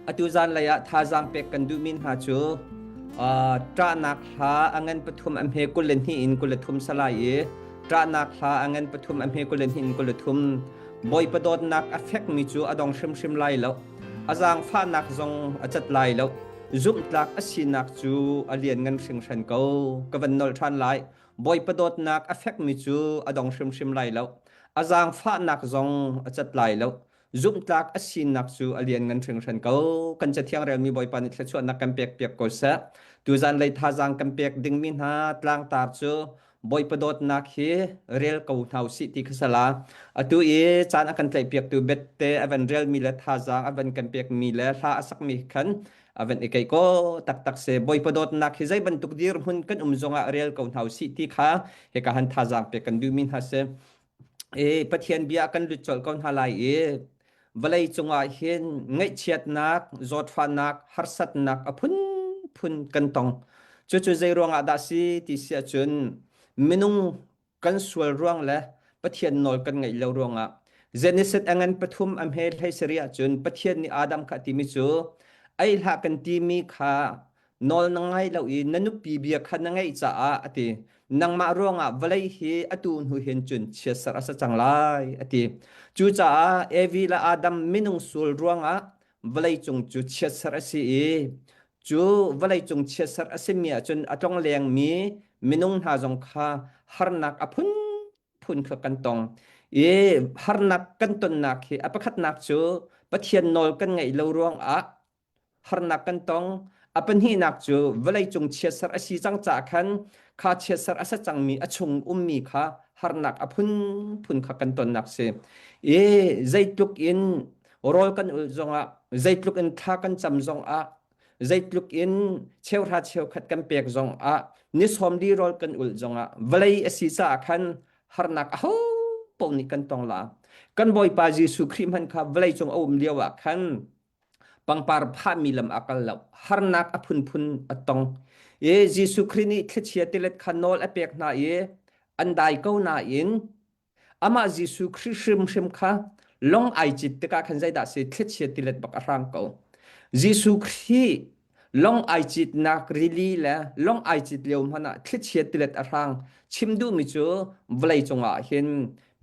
atu zan lei ah thazaang pek kan duhmi hna cu ṭahnak hla a ngan pathum a hme kul hnih in kul thum salai i ṭahnak hla a ngan pathum a hme kul hnih in kul thum bawipa dawtnak a fekmi cu a dong hrimhrim lai lo a zaangfahnak zong a cat lai lo zumhtlak a sinak cu a lian ngan hringhran ko ka van nol ṭhan lai bawipa dawtnak a fekmi cu a dong hrimhrim lai lo a zaangfahnak zong a cat lai lo zumhtlak a sinak cu a lianngan hringhran ko kan cathiang relmi bawipa nih thluachuahnak kan pek piak ko seh tuzan lei thazaang kan pek dingmi hna tlangtar cu bawipa dawtnak hi rel ko hna usih ti khasala atu i caan a kan tlaihpiaktu bette a van relmi le thazaang a van kan pekmi le hla a sakmi khan a van i kai ko taktak se bawipa dawtnak hi zei bantuk dir hun kan um zongah rel ko hna usih ti kha heka han thazaang pe kan duhmi hna se E Pathian bia kan lut colh ko hna lai i vawlei cungah hin ngaihchiatnak, zawtfahnak, harsatnak a phunphun kan tong. Cucu zei ruangah dah si ti si ahcun minung kan sual ruang le Pathian nawl kan ngaih lo ruangah Genesis angan pathum a hme hlei seri ahcun Pathian nih Adam kha a timi cu ei hlah kan timi kha nawl na ngai lo i na nupi bia kha na ngaih caah a ti nangmah ruangah vawlei hi atu hnu hin cun chiatserh a sa cang lai a ti cucaah evi le adam minung sul ruangah vawleicung cu chiatserh a si i cu vawleicung chiatserh a simi ahcun a tlong lengmi minung hna zong kha harnak a phun phun kha kan tong i harnak kan tonnak hi a pakhatnak cu pathian nawl kan ngaih lo ruangah harnak kan tong. A pahnihnak cu vawleicung chiatserh a si cang caah khan kha chiatserh a sa cangmi a chung ummi kha harnak a phunphun kha kan tonnak si. I zeitluk in rawl kan ulh zongah, zeitluk in thla kan cam zongah, zeitluk in cheuhra cheukhat kan pek zongah, ni sawm li rawl kan ulh zongah, vawlei a si caah khan harnak a ho paoh nih kan tong la. Kan Bawipa Jesuh Khrih hmanh kha vawleicung a um lioah khan pangpar phahmi lam a kal lo harnak a phunphun a tong i Jesuh Khrih nih thlichia tilet kha nawl a pek hna i an dai ko nain amah Jesuh Khrih hrimhrim kha long ai cit tikah khan zeidah si thlichia tilet bak a hrang ko Jesuh Khrih long ai cit nak rili le long ai cit lio hmanh ah thlichia tilet a hrang chim duhmi cu vawlei cungah hin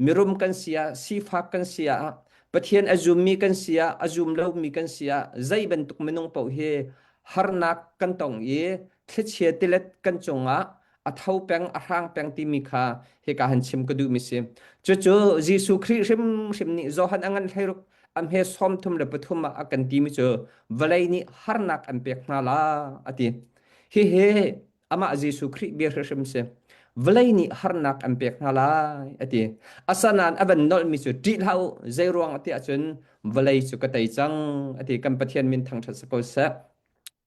mirum kan si ah sifak kan si ah pathian a zummi kan si ah a zum lomi kan si ah zei bantuk minung paoh hi harnak kan tong i thlichia tilet kan cungah a tho peng a hrang peng timi kha hika han chim ka duh mi si cucu Jesuh Khrih hrimhrim nih Johan a ngan hlei ruk a hme som thum le pathum ah a kan ti mi cu vawlei nih harnak an pek hna la a ti hihi amah Jesuh Khrih bia hrimhrim si vawlei nih harnak an pek hna lai a ti asanan a van nolh mi cu ṭih hlah u zei ruang a tiah cun vawlei cu ka tei cang a ti kan Pathian min thangṭhat sa ko seh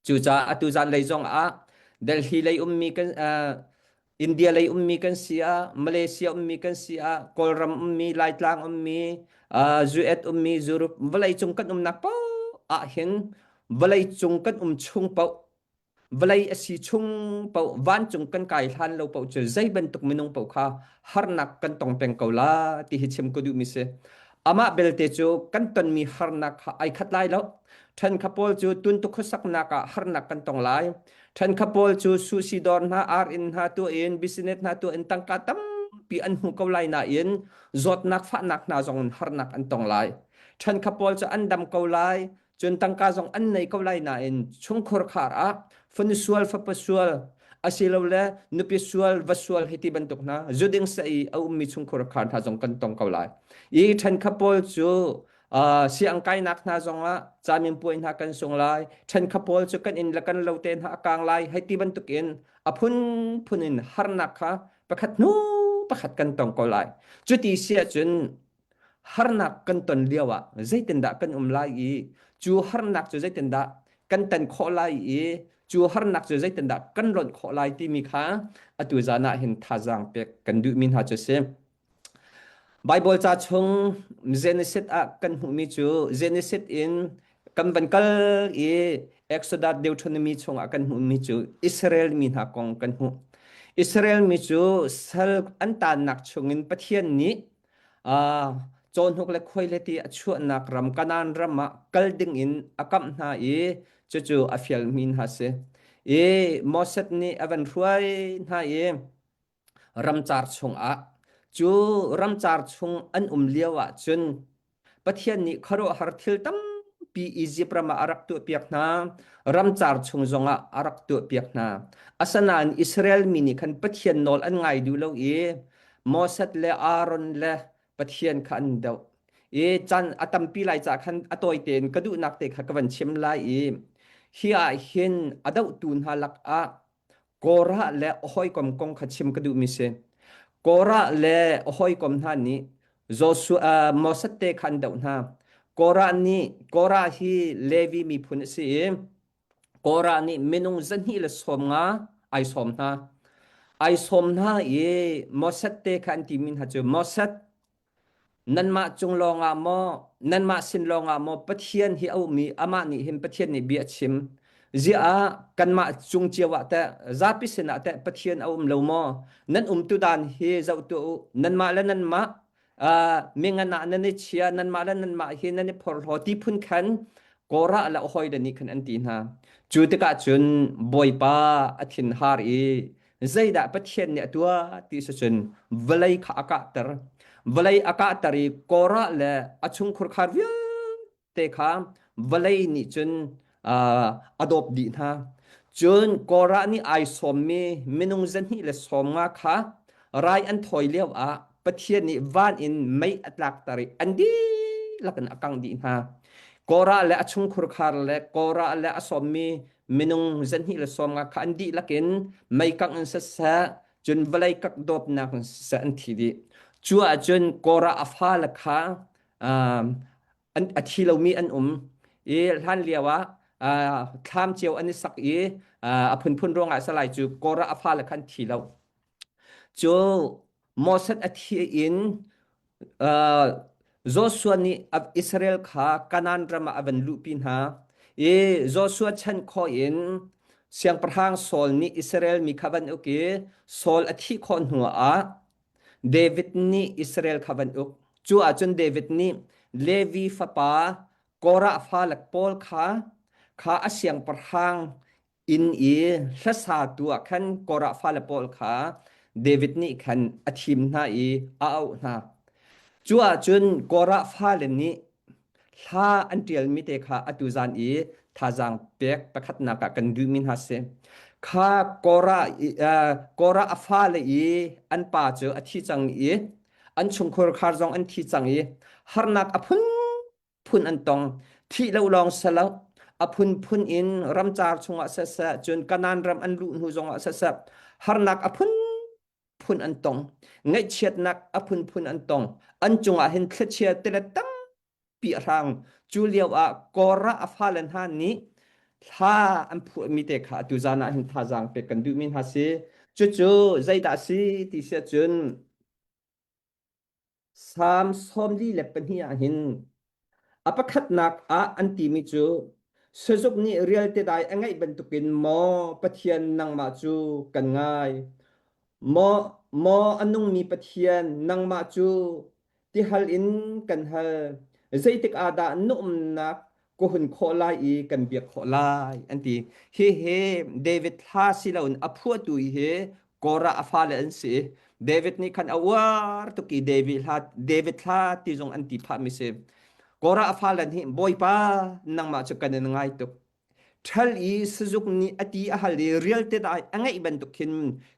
Cucaah atu zanlei zongah Delhi lei ummi kan uh, India lei ummi kan si ah Malaysia ummi kan si ah Kawlram ummi Laitlang ummi uh, Zuet ummi Zurup vawleicung kan umnak po ahhin vawleicung kan um chung po vawlei asi chung po vancung kan kai hlan lo po cu zei bantuk minung po kha harnak kan tong peng ko la ti hi chim ko duh mi si Amah belte cu kan tonmi harnak kha ai khat lai lo. Ṭhen kha Paul cu tuntuk khuasaknak ah harnak kan tong lai. Ṭhen kha Paul cu susidor hna, ar-inn hna tu in, business hna tu in tangka tampi an hmu ko lai nain zawtnak fahnak hna zong in harnak an tong lai. Ṭhen kha Paul cu an dam ko lai. cun tangka zong an nei ko lai nain chungkhur khar ah fun sual fapa sual asilole nupi sual va sual hi ti bantuk hna zuding sai a ummi chungkhur khar hna zong kan tong ko lai i ṭhen kha paul cu siang kainak hna zongah camin puai hna kan sung lai ṭhen kha paul cu kan in le kan lo te hna a kang lai hei ti bantukin a phun phun in harnak kha pakhat hnu pakhat kan tong ko lai cuti sia cun harnak kan ton lio ah zeitindah kan um lai i cu harnak cu zeitindah kan tan khawh lai i cu harnak cu zeitindah kan lonh khawh lai timi kha atu zan ah hin thazaang pek kan duhmi hna cu si Bible ca chung Genesis ah kan hmuhmi cu Genesis in kan van kal i Exodus Deuteronomy chung ah kan hmuhmi cu Israel mi hna kong kan hmuh Israel mi cu sal an tannak chungin Pathian nih Ah, cawnhuk le khuai le ti a chuahnak ram Kanaan ram ah kal ding in a kamh hna i cucu a fialmi hna si. I Moses nih a van hruai hna i ramcar chung ah cu ramcar chung an um lio ah cun Pathian nih khuaruahhar thil tampi Izipt ram ah a rak tuahpiak hna. Ramcar chung zongah a rak tuahpiak hna. Asinain Israel mi nih khan Pathian nawl an ngai duh lo i Moses le Aaron le Pathian kha an doh. I caan a tampi lai caah khan a tawi tein ka duhnak te kha ka van chim lai i hi ah hin a dohtu hna lakah Korah le a hawikom kong kha chim ka duhmi si. Korah le a hawikom hna nih Joshua Moses te kha an doh hna. Korah nih Korah hi Levi miphun a si i Korah nih minung zahnih le sawm nga ai sawm hna. Ai sawm hna i Moses te kha an timi hna cu Moses Nanmah cung lawngah maw, nanmah sin lawngah maw Pathian hi a um i amah nih hin Pathian nih bia a chim. Ziah ah kanmah cung cio ah teh zapi sinah teh Pathian a um lo maw? Nan umtu dan hi zoh tuah u. Nanmah le nanmah uh, mingan ah nan i chia, nanmah le nanmah hi nan i phorhlaw ti phun khan Korah le hoi le nih khan an ti hna. Cu tikah cun Bawipa a thinhar i Zeidah Pathian nih a tuah ti si cun vawlei kha a kahter. Vawlei a kahter i Korah le a chungkhur khar vialte kha vawlei nih cun uh, a dawp dih hna. Cun Korah nih ai sawmmi minung zahnih le sawm nga kha rai an thawi lio ah Pathian nih van in mei a tlakter i an dihlak in a kangh dih hna. Korah le a chungkhur khar le Korah le a sawmmi minung zahnih le sawm nga kha an dih lakin meikang in sasah cun vawlei kak dawpnak in sasah an thi dih cu ahcun kora a fale kha an a thi lomi an um i hlan lio ah thlam cio an i sak i a phunphun ruangah salai cu kora a fale kha an thi lo Cu Moses a thih in uh, Joshua nih Israel kha Kanaan ram ah a van luhpi hna i Joshua chan khawh in siangpahrang Saul nih Israel mi kha van uk i Saul a thih khawh hnu ah David nih Israel kha van uk. Cu ahcun David nih Levi fapa Korah fa lak pawl kha kha a siangpahrang Inn i hlasa tu ah khan Korah fale pawl kha David nih khan a thim hna i a auh hna. Cu ahcun Korah fale nih hla an ṭialmi te kha atu zan i thazaang pek pakhatnak ah kan duhmi hna si. Kha Korah i uh, Korah a fale i an pa cu a thi cang i an chungkhur khar zong an thi cang i harnak a phun phun an tong thih lo lawng si lo a phunphun in ramcar chungah seseh cun kanan ram an luh hnu zongah seseh harnak a phunphun an tong ngaihchiatnak a phunphun an tong an cungah hin thlichia tile tampi a hrang cu lio ah kora a fale hna nih thla an phuhmi te kha atu zan ah hin thazaang pek kan duhmi hna si cucu zeidah si ti sia cun Salm sawmli le pahnih ah hin a pakhatnak ah an timi cu sazuk nih rialte dai a ngaih bantukin maw Pathian nangmah cu kan ngai maw maw a nungmi Pathian nangmah cu tihal in kan hal zeitik ah dah na umnak ka hun khawh lai i kan biak khawh lai an ti hihi David hla si loin a phuatu hi Korah a fale an si David nih khan a uar tuk i David hla David hla ti zong an ti phahmi si Korah a fale nih bawipa nangmah cu kan in ngai tuk ṭhal i sizuk nih a ti a hal i rialte dai a ngeih bantuk khin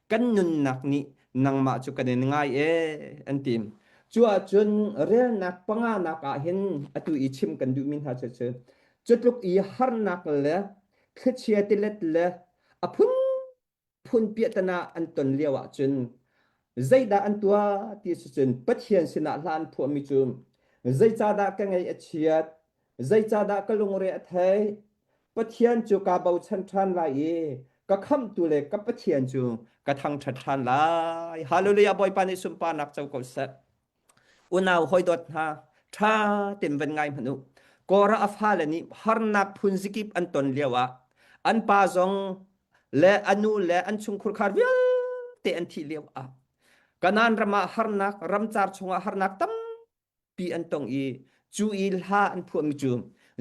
kan nunnak nih nangmah cu kan in ngai e an tim cu ahcun relnak panganak ah hin atu i chim kan duhmi hna cu cu cutluk i harnak le thlichia tilet le a phun phun piatana an ton lio ahcun zeidah an tuah ti cu cun Pathian sinah hlan phuahmi cu zeicadah ka ngei a chiat Zeicahdah ka lungre a theih? Pathian cu kaa bochan ṭhan lai i ka khamhtu le ka Pathian cu ka thangṭhat ṭhan lai. Hallelujah Bawipa nih sunparnak co ko seh. Unau hawidawt hna, ṭha tein van ngai hmanh u. Korah a fale nih harnak phun zikip an ton lioah an pa zong le a nu le an chungkhur khar vialte an thih lioah Kanaan ram ah harnak, ramcar chungah harnak tampi pi an tong i cu i hla an phuahmi cu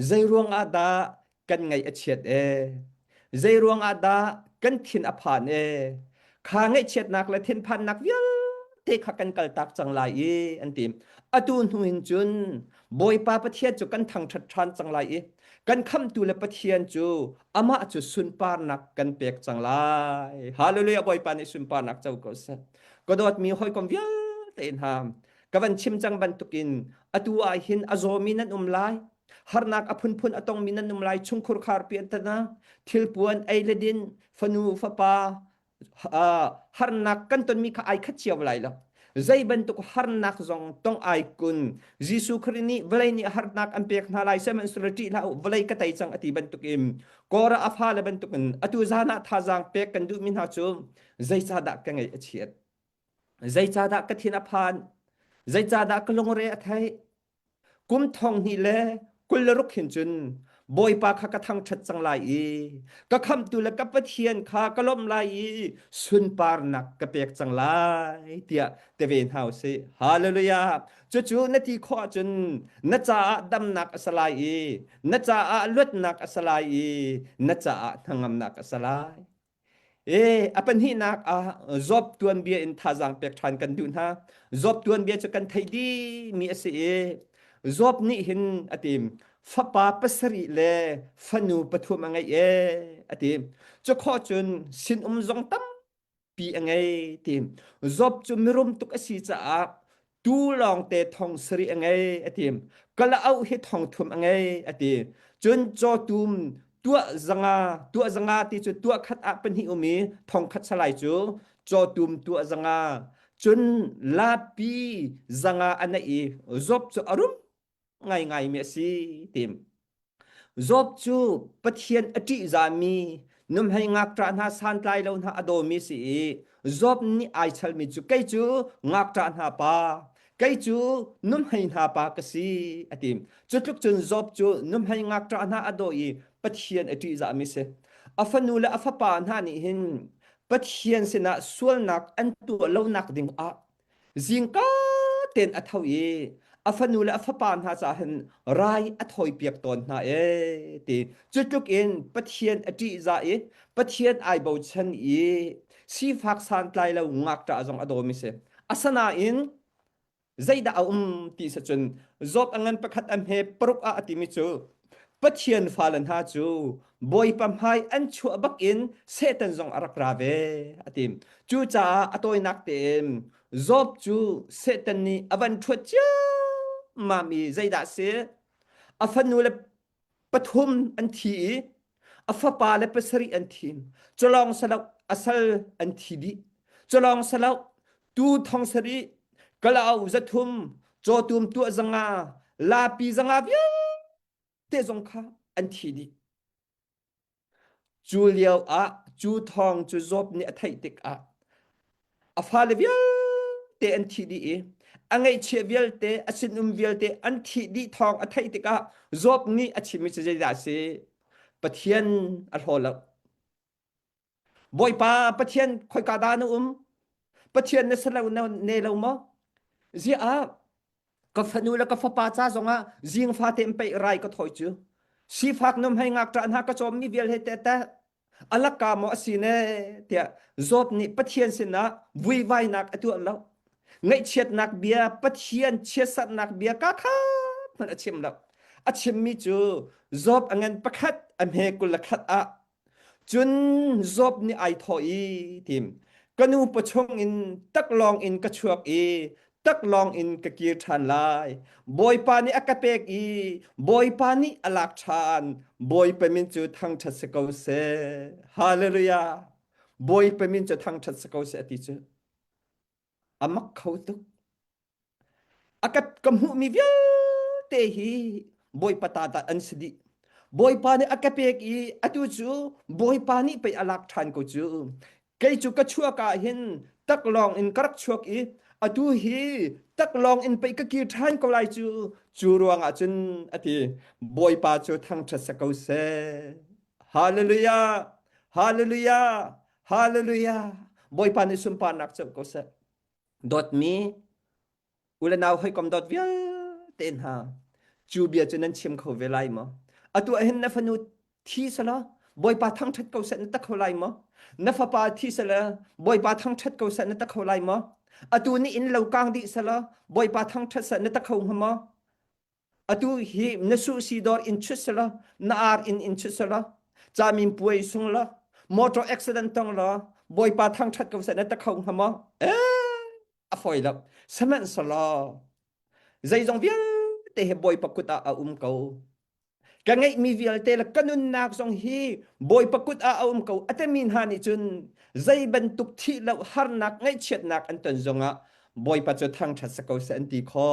zei ruang ah dah kan ngaih a chiat e zei ruang ah dah kan thin a phan e kha ngaihchiatnak le thinphannak vialte kha kan kaltak cang lai i an ti atu hnu hin cun bawipa pathian cu kan thangṭhat ṭhan cang lai i kan khamtu le pathian cu amah cu sunparnak kan pek cang lai hallelujah bawipa nih sunparnak co ko seh ka dawtmi hawikom vialte in ha ka van chim cang bantukin atu ah hin a zawmi nan um lai harnak a phunphun a tongmi nan um lai chungkhur kharpi an tana thilpuan ei le din fanu fapa harnak kan tonmi kha ai khat cio lai lo zei bantuk harnak zong tong ai kun Jesu Khrist nih vawlei nih harnak an pek hna lai sem an surati la vawlei ka tai chang ati bantukin kora afa le bantukin atu zana thazang pek kan duhmi hna cu zeicahdah ka ngei a chiat Zeicahdah ka thin a phan? Zeicahdah ka lungre a theih? Kum thong hnih le kul le ruk hin cun Bawipa kha ka thangṭhat cang lai i ka khamtu le ka Pathian kha ka lawmh lai i sunparnak ka pek cang lai tiah ti ve hna u sih. Halleluja! Cucu na ti khawh ahcun na caah damnak a si lai i na caah luatnak a si lai i na caah hnangamnak a si lai. E a pahnihnak ah Job tuanbia in thazaang pek ṭhan kan duh hna. Job tuanbia cu kan theih dihmi a si i Job nih hin a ti fapa pasarih le fanu pathum a ngei e a ti. Cu khuah cun sinum zong tampi a ngei ti. Job cu mirum tuk a si caah tu lawngte thong sari a ngei ati kala au hi thong thum a ngei ati cun cho tum tua zanga tua zanga ti cu tua khat a pan hi umi thong khat salai cu cho tum tua zanga cun lapi zanga anai i zop cu arum ngaingaimi a si tim. Job cu Pathian a ṭihzahmi numhei ngakṭah hna santlai lo hna a dawmi si i Job nih ai chalmi cu kei cu ngakṭah hna pa kei cu numhei hna pa ka si a ti. Cutluk cun Job cu numhei ngakṭah hna a daw i Pathian a ṭihzahmi si. A fanu le a fapa hna nih hin Pathian sinah sualnak an tuah lonak ding ah Zingka ten a tho i a fanu le a fapa hna caah hin rai a thawi piak tawn hna e ti cu tluk in Pathian a ṭihzah i Pathian ai bochan i sifak santlai lo ngakṭah zong a dawmi si asinain zeidah a um ti sa cun Job a ngan pakhat a hme paruk ah a timi cu Pathian fale hna cu bawipa hmai an chuah bakin Satan zong a rak ra ve a ti. Cucaah a tawinak tein Job cu Satan nih a van ṭhuat ciammam i zeidah a si? A fanu le pathum an thi i a fapa le pasarih an thin culong salok asal an thi dih culong salok tu thong sari kalaw zathum chawtum tu zanga lapi zanga vial te zong kha an thi dih cu lio ah cu thong cu zop nih a theih tik ah a fale vialte an thih dih i a ngeihchiah vialte a sinum vialte an thih dih thawng a theih tikah Job nih a chimmi cu zeidah a si Pathian a hlaw lo Bawipa Pathian khoika da na um Pathian na sa lo ne lo maw ziah ka fanu le ka fapa ca zongah zing fate in pei rai ka thoi cu sifak num hei ngak tra hna ka cawmmi vial he te te alaka maw asine tiah zawt nih pathian sinah vuivainak a tuah lo ngaihchiatnak bia pathian chiatsatnak bia ka khat hmanh a chim lo a chimmi cu job a ngan pakhat a hme kul le khat ah cun job nih ai thawh i tim ka nu pa chung in taklawng in ka chuak i tak lawng in ka kir ṭhan lai bawipa nih a ka pek i bawipa nih a lak ṭhan bawipa min cu thangṭhat si ko seh hallelujah bawipa min cu thangṭhat si ko seh a ti cu a mak kho tuk a ka ka hmuhmi vialte hi bawipa ta ta an si dih bawipa nih a ka pek i atu cu bawipa nih pei a lak ṭhan ko cu kei cu ka chuak ah hin taklawng in ka rak chuak i atu hi taklawng in pei ka kir ṭhan ko lai cu cu ruangah cun a ti bawipa cu thangṭhat sa ko seh hallelujah hallelujah hallelujah bawipa nih sunparnak cu ko seh dawtmi U le nau hawikom dot vialte hna, cu bia cu nan chiam kho ve lai maw? Atu ahhin na fanu thi sala Bawipa thangṭhat ko seh na tak kho lai maw? Na fapa thi sala Bawipa thangṭhat ko seh na tak kho lai maw? Atu nih in lo kang dih sala Bawipa thangṭhat seh na tak kho hnga maw? atu hi na su si dor in chut sela na ar in in chut sela chamin puai sung la motor accident tong la boipa thang that ko sa na ta khau hama e a foi la saman sala zeizong vial te he boy pakuta a um ko ka ngei mi vial te la kanun nak zong hi boy pakut a aum ko atamin ha ni chun zei bantuk thi lo har nak ngai chiat nak an ton zonga boy pa chu thang that sa ko sa an ti kho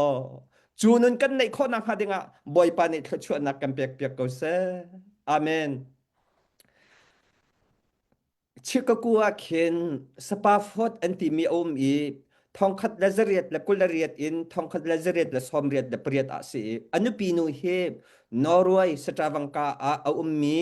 cu nun kan neih khawh nakhnga dingah Bawipa nih thluachuahnak kan pekpiak ko seh. Amen. Chicago ah khin Sapafot an timi a um i thongkhat le zariat le kul le riat in thongkhat le zariat le sawmriat le pariat ah si i a nupi nu hi Norway satravangka ah a ummi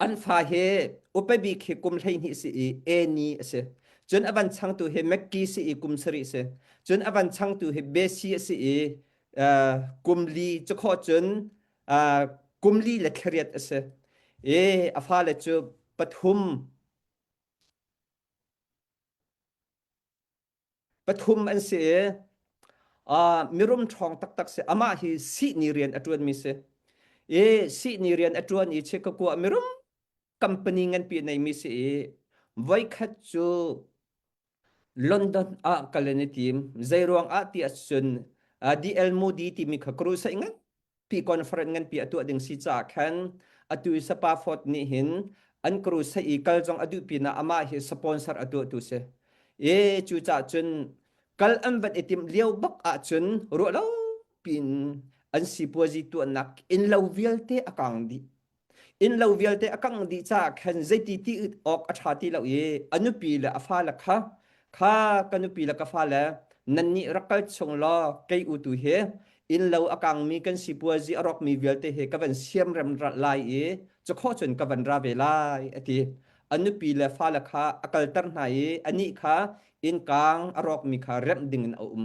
An fa hi upebi khi kum hleihnih si i eni a si. Cun a van changtu hi McKee si i kum sarih si. Cun a van changtu hi Bessie a si i uh, kum li cu kho cun uh, kum li le thlariat a si. I a fale cu pathum Pathum an si i uh, mirum ṭhawng taktak si amah hi sihni rian a ṭuanmi si i sihni rian a ṭuan i chekakua mirum company nganpi neimi si i voikhat cu London ah kal an i tim. Zeiruang ah ti ahcun uh, The El Moody timi kha crusade ngan Hi conference nganpi a tuah ding si caah khan atu i Sapafort nih hin an crusade i kal zong a duh pinah amah hi sponsor a tuahtu si. E cucaah cun kal an van i timh lio bak ahcun ruah lo pin an sipuazi tuahnak innlo vialte a kang dih. Innlo vialte a kangh dih caah khan zeiti ti awk a ṭha ti lo i a nupi le a fale kha kha ka nupi le ka fale nannih rak kal chung law kei u tu hi innlo a kangmi kan sipuazi a rawkmi vialte hi ka van siamrem lai i cukhawh cun ka van ra ve lai a ti a nupi le fale kha a kalter hna i anih kha innkang a rawkmi kha remh dingin a um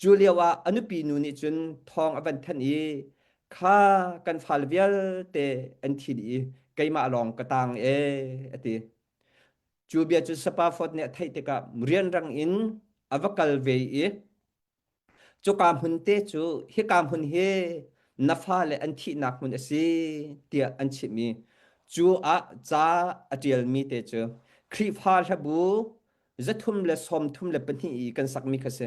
Cu lioah a nupi nu nih cun thawng a van thanh i kha kan fal vialte an thil i keimah lawng ka tang e a ti. Cu bia cu Sapafot nih a theih tikah rianrang in a va kal ve i cuka hmun te cu hika hmun hi na fale an thihnak hmun a si tiah an chimh i cu ah ca a ṭialmi te cu Khrihfa hlabu Zathum le sawmthum le pahnih i kan sakmi kha si.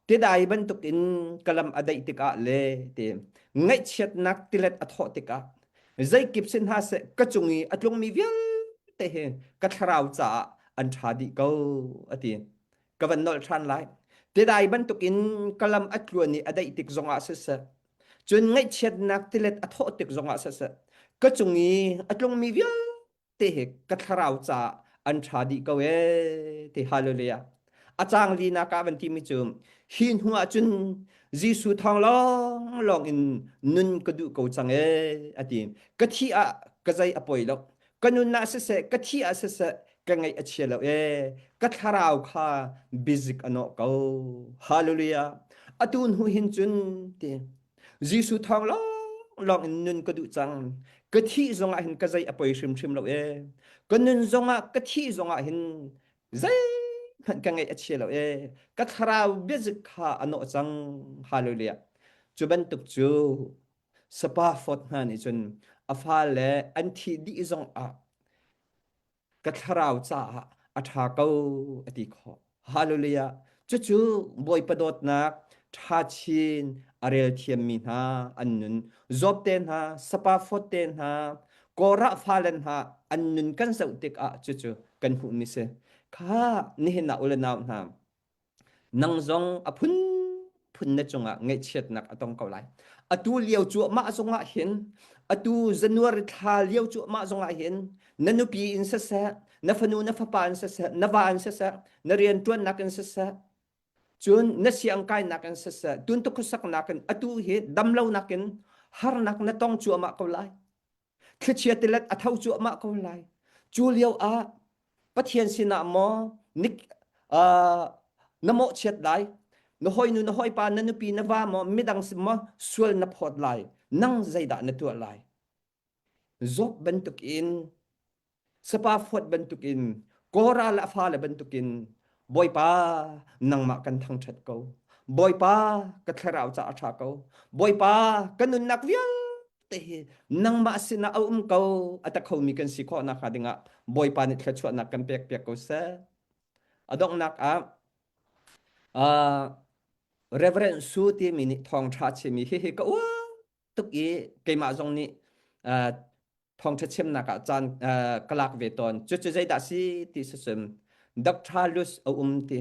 Tidai bantuk in kalam a daih tikah le ti ngaihchiatnak tilet a thawh tikah zeikip si hna se ka cung i a tlungmi vialte hi ka thlarau caah an ṭha dih ko a ti. Ka van nolh ṭhan lai. Tidai bantuk in kalam a tluan i a daih tik zongah siseh, cun ngaihchiatnak tilet a thawh tik zongah siseh, ka cung i a tlungmi vialte te he ka thlarau ca an tha dih ko e te hallelujah a cang li na ka van ti mi cu hi hnu ah cun Jesuh thong long long in nun ka du ko chang e ati ka thi a ka zai a poi lo ka nun na se se ka thi a se se ka ngai a chia lo e ka thlarau kha bizik ano ko hallelujah atu hnu hin cun ti Jesuh thawng lawnglawng in nun ka duh cang. Ka thih zongah hin ka zei a poi hrimhrim lo e. Ka nun zongah ka thih zongah hin zei hmanh ka ngeih a chia lo e. Ka thlarau biazik kha a nawh cang. Hallelujah. Cu bantuk cu sapa fawt hna nih cun a fa le an thi dih zongah ka thlarau caah a ṭha ko a ti khawh. Hallelujah! Cucu Bawipa dawtnak, ṭhachin, a rel thiammi hna an nun, Job-te hna, Sapafot-te hna, Korah fale hna an nun kan zoh tikah cucu kan hmuhmi si. Kha nihin ah u le nau hna, Nang zong a phunphun na cungah ngaihchiatnak a tong ko lai. Atu lio cuahmah zongah hin, atu January thla lio cuahmah zongah hin, na nupi in siseh, na fanu na fapa in siseh, na va in siseh, na rianṭuannak in siseh, cun na siangkainak in siseh, tuntuk khuasaknak in atu hi damlonak in harnak na tong cuahmah ko lai. thlichia tilet a tho cuahmah ko lai cu lio ah pathian sinah maw nik na mawh chiat dai na hoi nu na hoi pa na nupi na va maw midang sim maw sual na phawt lai nang zeidah na tuah lai job bantuk in sapa fuat bantukin kora la fa le bantukin boipa nangmah kan thangthat ko boipa ka thlarau ca a tha ko boipa ka nunnak vial te hi nangmah sina a um ko ata khomi kan si kho na kha dingah boipa ni thlachuah nak kan pek pek ko se adongnak ah uh, Reverend Su ti mi nih thong tha chimi hi hi ka uah tuk i keimah zong nih uh, thawngtha chemnak ah caan uh, ka lak ve tawn cu cu zeidah si ti sasum Dr. Lus a um ti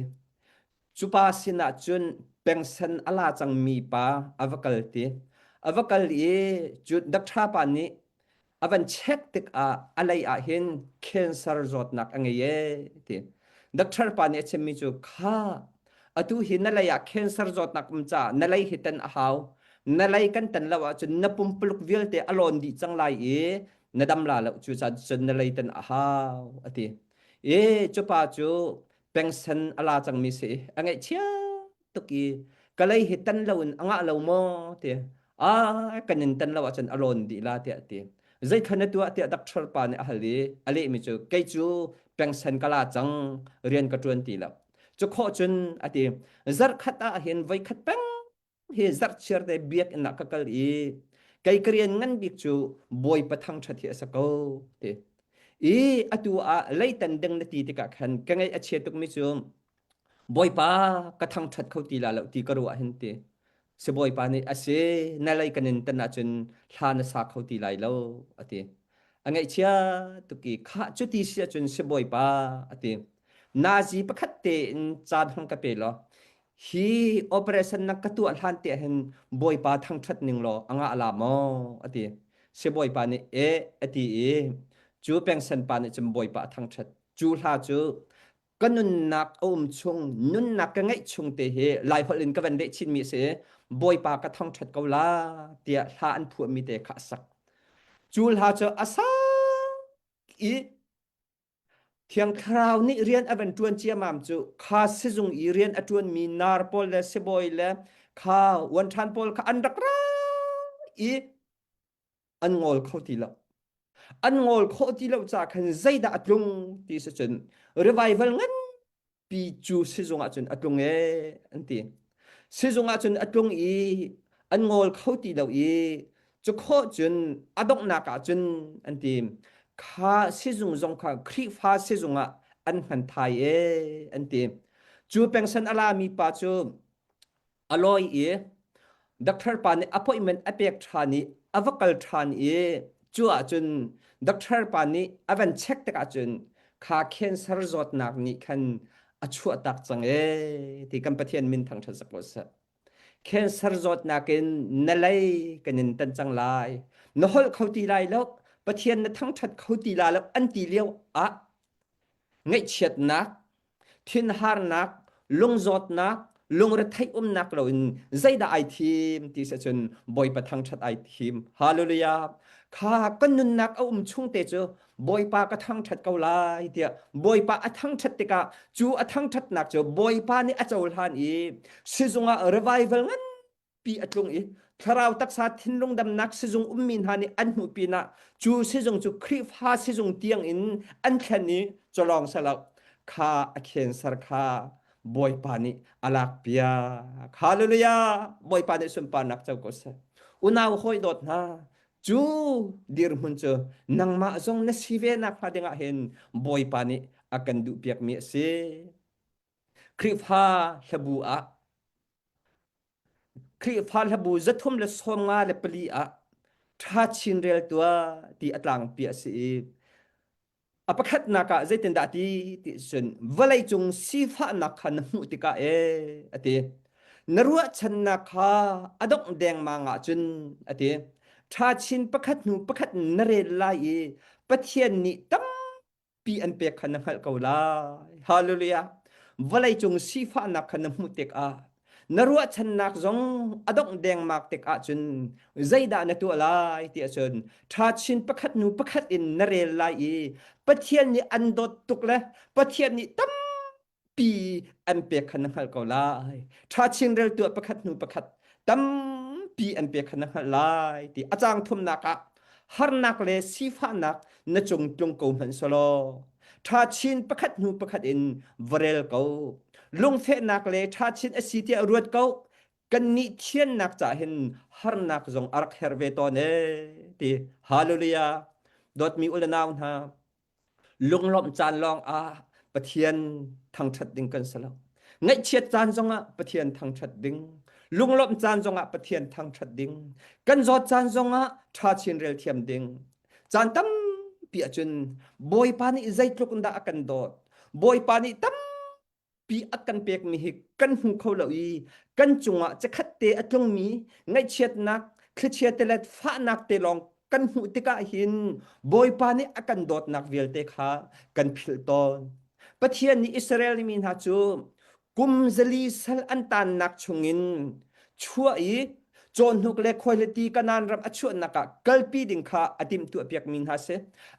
cupa sinah cun pengsen ala cangmi pa a va kal ti a va kal i cu doctor pa nih A van check tikah a lei ah hin cancer zawtnak a ngei ee ti. Doctor pa nih a chimmi cu kha atu hi na lei ah cancer zawtnak um caah na lei hi ten a hau. Na lei kan tan lo ahcun na pumpuluk vialte a lawn dih cang lai i na dam la lo cu caah cun na lei ten a hau a ti. E cupa cu pengsen a la cangmi si a ngaih chia tuk i kalei hi tan lo in a ngah lo maw ti a kan in tan lo ahcun a lawn dih la tiah ti zei khan na tuah tiah dakṭhor pa nih a hal i a lehmi cu kei cu pengsan ka la cang rian ka ṭuan ti lo cu khawh cun a ti zarkhat ah hin voikhat peng hi zarchiar te biakinn ah ka kal i kei ka rian ngan bik cu bawi pathang ṭhat hi a si ko ti i atu ah leitan ding na ti tikah khan ka ngaih a chia tukmi cu Bawipa ka thangṭhat kho ti la lo ti ka ruah ah hin ti si Bawipa nih a si na lei kan in tan ahcun thla na sa kho ti lai lo a ti a ngaihchia tuk i khah cuti si ahcun si Bawipa a ti nazi pakhat tein caan hong ka pe law hi operation na ka tuah hlan te hin Bawipa thangṭhat ning law a ngah la maw a ti si Bawipa nih e a ti i cu pengsan pa nih cun Bawipa a thangṭhat cu hla cu ka nunnak a um chung nunnak ka ngeih chung te hi lai holh in ka van leh chinmi a si bawipa ka thangṭhat ko la tiah hla an phuahmi te kha a sak cu hla cu a sak i Thiang Thlarau nih rian a van ṭuan ciamam cu kha sizung i rian a ṭuanmi nar pawl le sibawi le kha wan ṭhan pawl kha an rak ra i an ngol kho ti lo an ngol khawh ti lo ca khan zeidah a tlung ti si cun revival nganpi cu sizung ah cun a tlung e an ti sizung ah cun a tlung i an ngol kho ti lo i cu khaw cun a donghnak ah cun an ti kha sizung zong kha Khrihfa sizung ah an hman thai e an ti cu pengsan a lami pa cu a lawi i doctor pa nih appointment a pek ṭhan i a va kal ṭhan i cu ahcun doctor pa nih a van check tikah cun kha cancer zawtnak nih khan a chuah tak cang e ti kan Pathian min thang ṭhan sako seh cancer zawtnak in na lei kan in tan cang lai na holh kho ti lai lo Pathian na thangṭhat kho ti la lo an ti lio ah ngaihchiatnak thinharnak lungzawtnak lungretheih umnak loin zeidah ai thim ti se cun bawipa thangthat ai thim hallelujah kha kan nunnak a um chung te cu bawipa ka thangthat ko lai tiah bawipa a thangthat tikah cu a thangthatnak cu bawipa nih a cohlan i sizung ah revival ngan pi a tlung i thlarau taksa thinlung damnak sizung ummi hna nih an hmuh pinah cu sizung cu Khrihfa sizung tiangin an thlen i culawng salo kha a khenser kha Bawipa nih a lak piak. Hallelujah! Bawipa nih sunparnak co ko seh. Unau hawi dawt hna, cu dirhmun cu nangmah zong na si ve nakhnga dingah hin Bawipa nih a kan duh piakmi a si. Khrihfa hlabu ah Khrihfa hlabu zathum le sawmnga le pali ah ṭha chin rel tua ti a tlangpi a si i a pakhatnak ah zeitindah ti ti cun vawlei cung sifahnak kha na hmuh tikah e a ti na ruahchannak kha a dongh dengmang ahcun a ti ṭha chin pakhat hnu pakhat na rel lai i Pathian nih tam pi an pek kha na hngalh ko lai. Hallelujah. Vawlei cung sifahnak kha na hmuh tikah na ruahchannak zong a dongh dengmang tikah cun zeidah na tuah lai ti ahcun ṭha chin pakhat hnu pakhat in na rel lai i Pathian nih an dawt tuk le Pathian nih tam pi an pek khan na hngalh ko lai tha chinrel tuah pakhat hnu pakhat tampi an pek khan na hngalh lai ti a cang thumnak ah harnak le sifahnak na cung tlung ko hmanh solo tha chin pakhat hnu pakhat in varel ko lungfehnak le tha chin asi tiah ruat ko kan ni thiannak cha hin harnak zong arak her ve to ne ti hallelujah dot mi ulanau hna Lunglawmh caan lawngah Pathian thangṭhat ding kan si lo. Ngaihchiat caan zongah Pathian thangṭhat ding. Lunglawmh caan zongah Pathian thangṭhat ding. Kan zawt caan zongah ṭha chin rel thiam ding. Caan tampi ahcun Bawipa nih zeitluk in dah a kan dawt. Bawipa nih tam pi a kan pekmi hi kan hmu kho lo i kan cungah cakhat te a tlungmi ngaihchiatnak thlichia te le fahnak te lawng kan hmuh tikah hin Bawipa nih a kan dawtnak vialte kha kan philh tawn Pathian nih Israel mi hna cu kum zali sal an tannak chungin chuah i Cawnhnuk le khuahliti Kanan ram a chuahnak ah kalpi ding kha a timtu a piakmi hna si.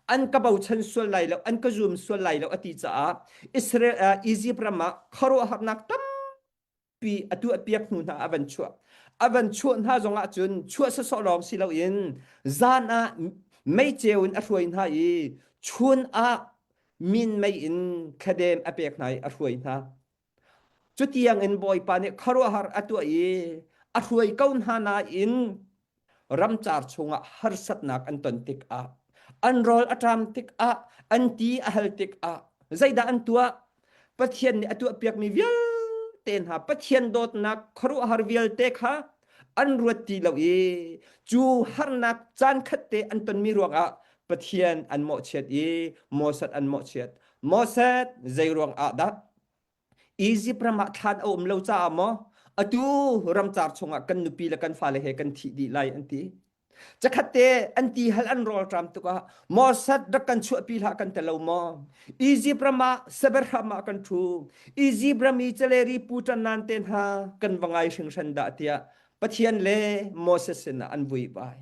An ka bochan sual lai lo, an ka zum sual lai lo a ti caah Israel uh, Egypt ram ah khuaruahharnak tampi a tu a piak hnu hna a van chuah. A van chuah hna zong ah cun chuah sasawh lawng si loin zan ah meicheu in a hruai hna i chun ah min mei in thladem a pek hna i a hruai hna. Cutiangin Bawipa nih khuaruahhar a tuah i a hruai ko hna nain ramcar chungah harsatnak an ton tikah an rawl a ṭam tikah an ti a hal tikah zeidah an tuah Pathian nih a tuahpiakmi vialte hna Pathian dawtnak khuaruahhar vialte kha an ruat ti lo i cu harnak caan khatte an tonmi ruangah Pathian an mawhchiat i Moses an mawhchiat Moses zeiruang ah dah Egypt ram ah thlan a um lo caah maw atu ramcar chungah kan nupi le kan fale he kan thi dih lai an ti Chakhatte an ti hal an rol tram tukah Mossad rak kan chuahpi la kan telo mo Egypt rama saber rama kan thu Egypt rami celeri putan nan te hna kan vangai hringhran da tia Pathian le Moses sina an vui bai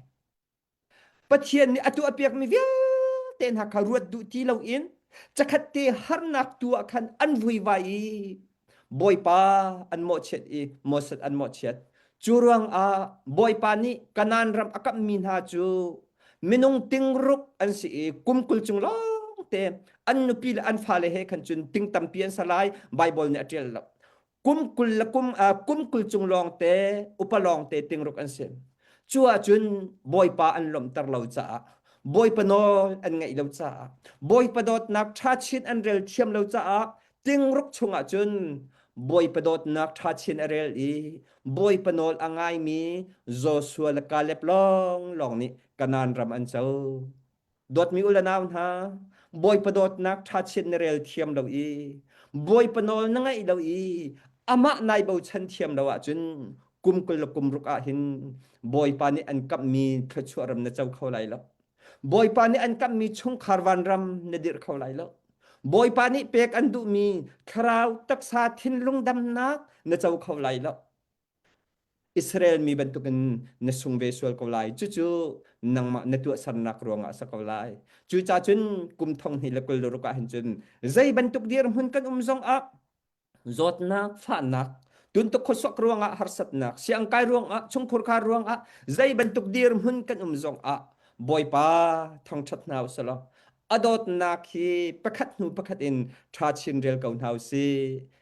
Pathian nih a tuahpiakmi vialte hna kha ruat duh ti loin cakhat te harnak tu ah khan an vuivai i Bawipa an mawhchiat i Moses an mawhchiat. Cu ruangah Bawipa nih Kanaan ram a kamhmi hna cu minung tingruk an si i kum kul chung lawngte an nupi le an fale he khan cun ting tampi an sa lai Baibal nih a ṭial lo. kum kul le kum uh, kum kul chung lawngte upa lawngte tingruk an si cu ahcun bawipa an lomter lo caah bawipa an ngeih lo caah bawipa dawtnak tha chin an rel thiam lo caah tingruk chungah cun bawipa dawtnak tha chin a rel i bawipa nawl a ngaimi Joshua le Caleb long long nih Kanan ram an co dawtmi u le nau hna bawipa dawtnak ṭha chiat na rel thiam lo i bawipa nawl na ngaih lo i amah nai bochan thiam lo ahcun kum kul le kum ruk ah hin bawipa nih an kamhmi thluachuah ram na co kho lai lo bawipa nih an kamhmi chungkhar vanram na dirh kho lai lo bawipa nih pek an duhmi thlarau taksa thinlung damnak na co kho lai lo Israel mi bantukin na sung ve sual ko lai. Cucu nangmah na tuahsernak ruangah a si ko lai. Cuca cun kum thong hnih le kul ruk ah hin cun zei bantuk dirhmun kan um zongah zawtnak, fahnak, tuntuk khuasuak ruangah harsatnak, siangkai ruangah, chungkhurkhar ruangah zei bantuk dirhmun kan um zongah Bawipa thangṭhat hna u selaw. A dawtnak hi pakhat hnu pakhat in ṭha chin rel ko hna u sih.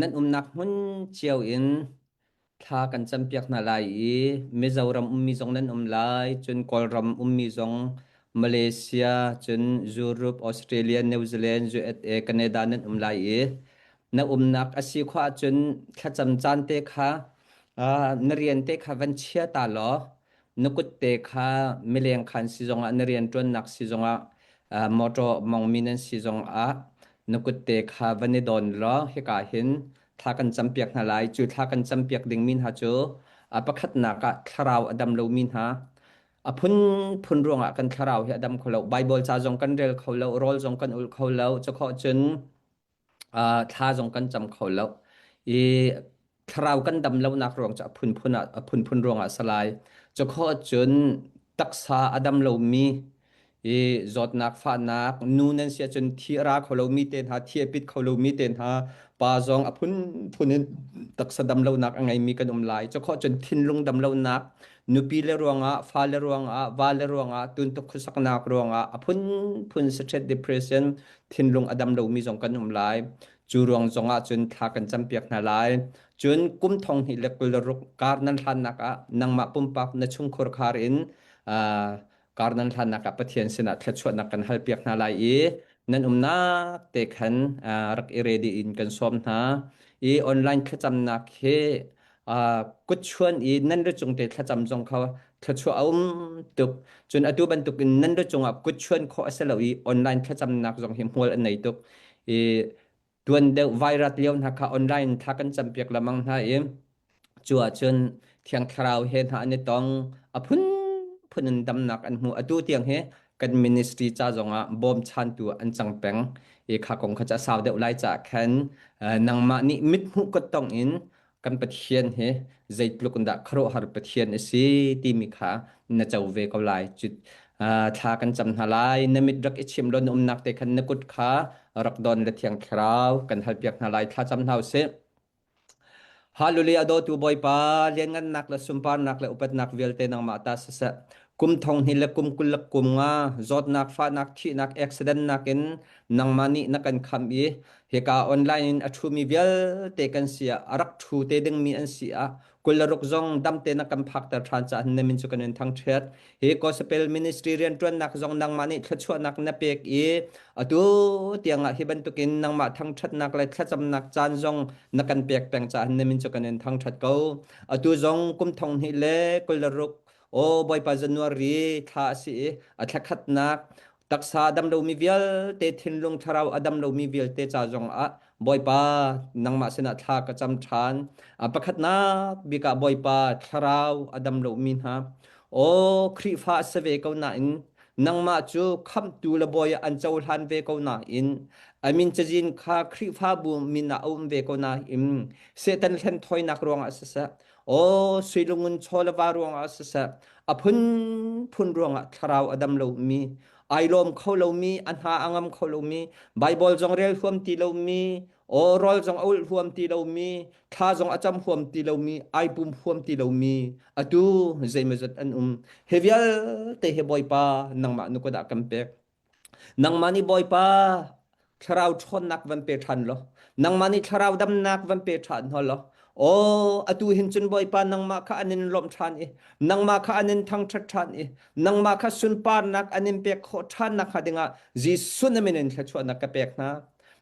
Nan umnak hmun cio in thla kan campiak hna lai i Mizoram ummi zong nan um lai, cun Kawlram ummi zong Malaysia, cun Europe, Australia, New Zealand, USA, Canada nan um lai i na umnak a si khawh ahcun thlacam caan te kha, ah, na rian te kha van chia ta law na kutte kha mileng khan si zongah na rianṭuannak si zongah uh, motor mongmi nan si zongah na kutte kha van i don law hika hin thla kan campiak hna lai cu thla kan campiak dingmi hna cu a pakhatnak ah thlarau a dam lomi hna a phunphun ruangah kan thlarau hi a dam kho lo bible ca zong kan rel kho lo rawl zong kan ul kho lo cakhawh cun Ah, thla zong kan cam kho lo. I thlarau kan dam lonak ruang cu a phunphun ah a phunphun ruangah a si lai. Cu kho cun taksa a dam lomi i zawtnak, fahnak, nu nan si ahcun thi a ra kho lomi te hna, thi a pit kho lomi te hna, pa zong a phunphun in taksa dam lonak a ngeimi kan um lai. Cu kho cun thinlung dam lonak, nupi le ruangah, fale ruangah, vale ruangah, tuntuk khuasaknak ruangah a phunphun stress depression, thinlung a dam lomi zong kan um lai. Cu ruang zong ah cun thla kan campiak hna lai. Cun kum thong hnih le kul le ruk kar nan hlannak ah nangmah pumpak na chungkhur khar in uh, kar nan hlannak ah Pathian sinah thluachuahnak kan halpiak hna lai i nan umnak te khan uh, rak i ready in kan sawm hna. I online thlacamnak hi kutchuan i nan rucung te thlacam zong kha thluachuah a um tuk. Cun atu bantuk in nan rucungah kutchuan khawh a si lo i online thlacamnak zong hi hmual an nei tuk. I tuan deuh virus lio hna kha online thla kan campiak lamang hna i cu ahcun Thiang Thlarau he hna an i tong a phun phun in damnak an hmu. Atu tiang hi kan ministry ca zongah bawm chan tu an cang peng. I kha kong kha ca sau deuh lai ca khan nangmah nih mithmuh kut tong in kan Pathian hi zeitluk in dah khuaruahhar Pathian a si timi kha na co ve ko lai. Cu thla kan cam hna lai. Na mit rak i chim law na umnak te khan na kut kha rak don le thiang thlarau kan halpiak hna lai. Thla cam hna u sih. Hallelujah dawtu Bawipa, lianngannak le sunparnak le upatnak vialte nangmah ta siseh. Kum thong hnih le kum kul le kum nga zawtnak, fahnak, thihnak, accident nakin nangmah nih na kan khamh i hika online in a ṭhumi vialte kan si ah, a rak ṭhu te dingmi an si ah, kul le ruk zong damte na kan phakter ṭhan caah na min cu kan in thangṭhiat. Hi Gospel Ministry rianṭuannak zong nangmah nih thluachuahnak na pek i atu tiangah hi bantukin nangmah thangṭhatnak le thlacamnak caan zong na kan pek peng caah na min cu kan in thangṭhat ko. Atu zong kum thong hnih le kul le ruk Aw Bawipa January thla a si i a thlakhatnak taksa dam lomi vialte thinlung thlarau a dam lomi vialte ca zong ah Bawipa nangmah sinah thla ka cam ṭhan. A pakhatnak bik ah Bawipa thlarau a dam lomi hna Aw Khrihfa a si ve ko nain nangmah cu khamhtu le bawi ah an cohlan ve ko nain amin cazin kha Khrihfabu min ah a um ve ko nain Satan hlenthawinak ruangah siseh Aw sui lungun chaw le va ruangah siseh a phunphun ruangah thlarau a dam lomi ai lawm kho lomi a hna a ngam kho lomi Bible zong rel huam ti lomi aw rol zong a ulh huam ti lomi thla zong a cam huam ti lomi ai pum huam ti lomi atu zeimazat an um hi vialte hi Bawipa nangmah nu ka dah kan pek nangmah nih bawipa thlarau ṭhawnnak van pe ṭhan law nangmah nih thlarau damnak van pe ṭhan hna law aw atu hin cun bawipa nangmah kha an in lawmh ṭhan i nangmah kha an in thangṭhat ṭhan i nangmah kha sunparnak an in pek khawh ṭhan nakhnga dingah Jesuh namin in thluachuahnak ka pek hna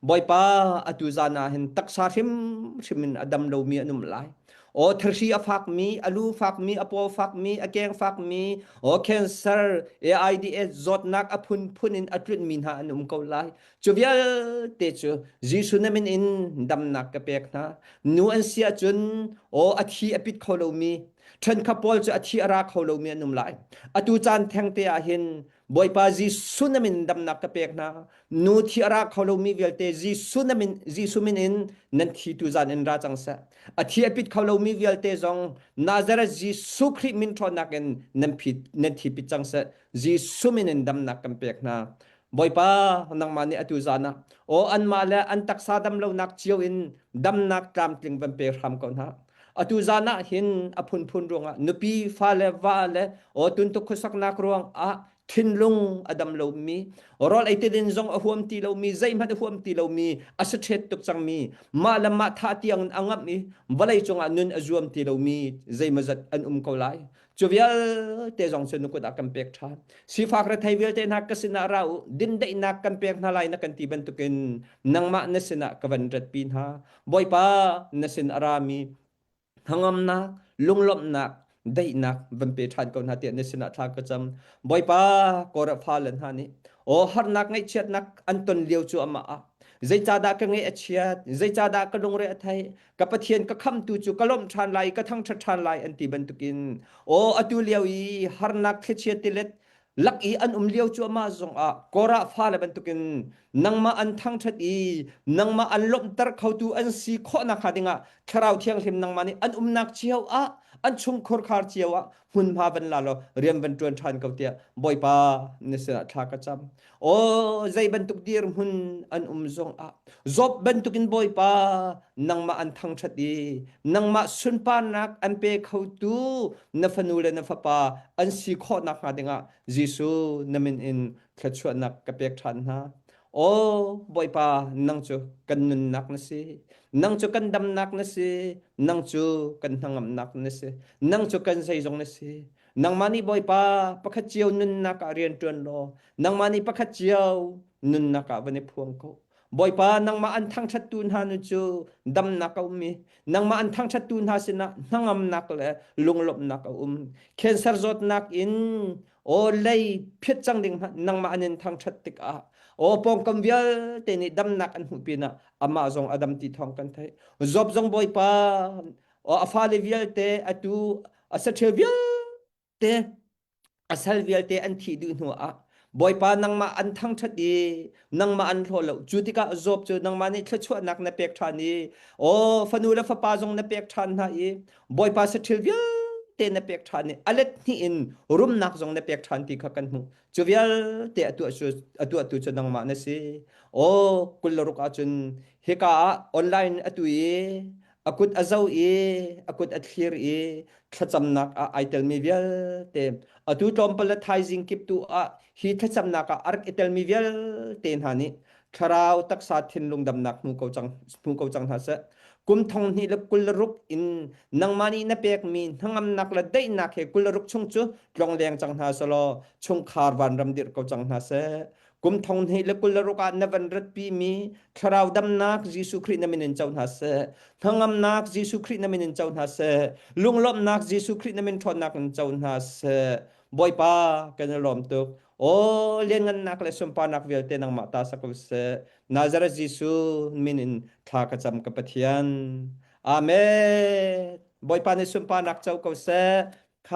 Bawipa atu zan ah hin taksa hrimhrim in a dam lomi an um lai. O thersi a fak mi, a lu fak mi, a paw fak mi, a keng fak mi, o cancer, AIDS zawtnak a phun phun in a tlun mi hna an um ko lai. Cu vialte cu Jesu namin in damnak ka pek hna. Nu an sia cun o a thi a pit kho lomi, ṭhen kha Paul cu a thi a ra kho lomi an um lai. Atu caan thengte ah hin Bawipa Jesuh na min damnak ka pek hna. Nu thi a ra kho lomi vialte Jesuh na min Jesuh min in nan thi tu zan in ra cang seh. A thi a pit kho lomi vialte zong Nazareth Jesuh Khrih min ṭhawnnak in nan pit nan thi pit cang seh. Jesuh min in damnak kan pek hna. Bawipa nangmah nih atu zan ah aw anmah le an taksa dam lonak cio in damnak tlamtling van pe hram ko hna. atu zan ah hin a phunphun ruang ah nupi fa le va le o tun tu khusak nak ruang ah thinlung adam lo mi rol eitidin zong a huam ti lo mi zei hmat a huam ti lo mi a sa thet tuk chang mi ma lam ma tha tiang angam i valei cung ah nun a zuam ti lo mi zei mazat an um ko lai cu vialte zong cu nu kut ah kan pek ṭhan sifak rethei vialte hna ka sinah ra u dindaihnak kan pek hna lai na kan ti bantukin nangmah na sinah ka van ratpi hna bawipa na sin a rami hnangamnak lunglawmhnak daihnak van pe ṭhan ko hna tiah na sinah thla ka cam bawipa korafalan hna nih o harnak ngaihchiatnak an ton lio cu amah ah zeicahdah ka nge a chiat zeicahdah ka lungre a thei ka pathian ka khamtu cu ka lawmh ṭhan lai ka thangṭhat ṭhan lai an ti bantukin aw atu lio i harnak thlichia tilet lak i an um lio cuahmah zong ah korah fale bantukin nangmah an thangṭhat i nangmah an lawmhter khotu an si khawh nakhnga dingah thlarau thianghlim nangmah nih an umnak cio ah an chungkhur khar cio ah hmunhma van la law rian van tuan than ko tiah bawipa na sinah thla ka cam o zei bantuk dir hmun an um zong ah zop bantukin bawipa nangmah an thangthat i nangmah sunparnak an pe khotu na fanu le na fapa an si khawhnak hnga dingah Jesuh na min in thluachuahnak ka pek than hna Aw, Bawipa, nang cu kan nunnak na si. Nang cu kan damnak na si. Nang cu kan hnangamnak na si. Nang cu kan zeizong na si. Nangmah nih Bawipa pakhat cio nunnak ah rian ṭuan law nangmah nih pakhat cio nunnak ah van i phuang ko. Bawipa, nangmah an thangṭhattu hna nu cu damnak a um i nangmah an thangṭhattu hna sinah hnangamnak le lunglawmhnak a um. Cancer zawtnak in aw lei phiat cang ding nangmah an in thangthat tik ah aw pawngkam vialte nih damnak an hmuh pin ah amah zong a dam ti thawng kan thei job zong bawipa a fale vialte atu a sathil vialte a sal vialte an thi duh hnu ah bawipa nangmah an thangthat i nangmah an thlaw lo cu tikah job cu nangmah nih thluachuahnak na pek than i o fanu le fapa zong na pek than hna i Bawipa sa thil vialte na pek ṭhan i a let hnih in rumnak zong na pek ṭhan ti kha kan hmuh. Cu vialte atu atu atu cu nangmah na si. O kullaruk ahcun hika ah online atu i a kut a zo i a kut a thlir i thlacamnak ah ai telmi vialte atu tlawmpal le thaizing kip tu ah hi thlacamnak ah a rak i telmi vialte hna nih thlarau taksa thinlung damnak hmu ko cang hmu ko cang hna seh kum thong hnih le kul ruk in nangmah nih na pekmi hnangamnak le daihnak he kul ruk chung cu tlong leng cang hna selaw chungkhar van ram dirh ko cang hna seh kum thong hnih le kul ruk ah na van ratpi mi thlarau damnak Jesuh Khrih na min in co hna seh hnangamnak Jesuh Khrih na min in co hna seh lunglawmnak Jesuh Khrih na min ṭhawnnak in co hna seh Bawipa kan i lawm tuk Aw lianhngannak le sunparnak vialte nangmah ta sak u sih. Nazareth Jesuh min in thla ka cam ka Pathian. Amen. Bawipa nih sunparnak co ko seh.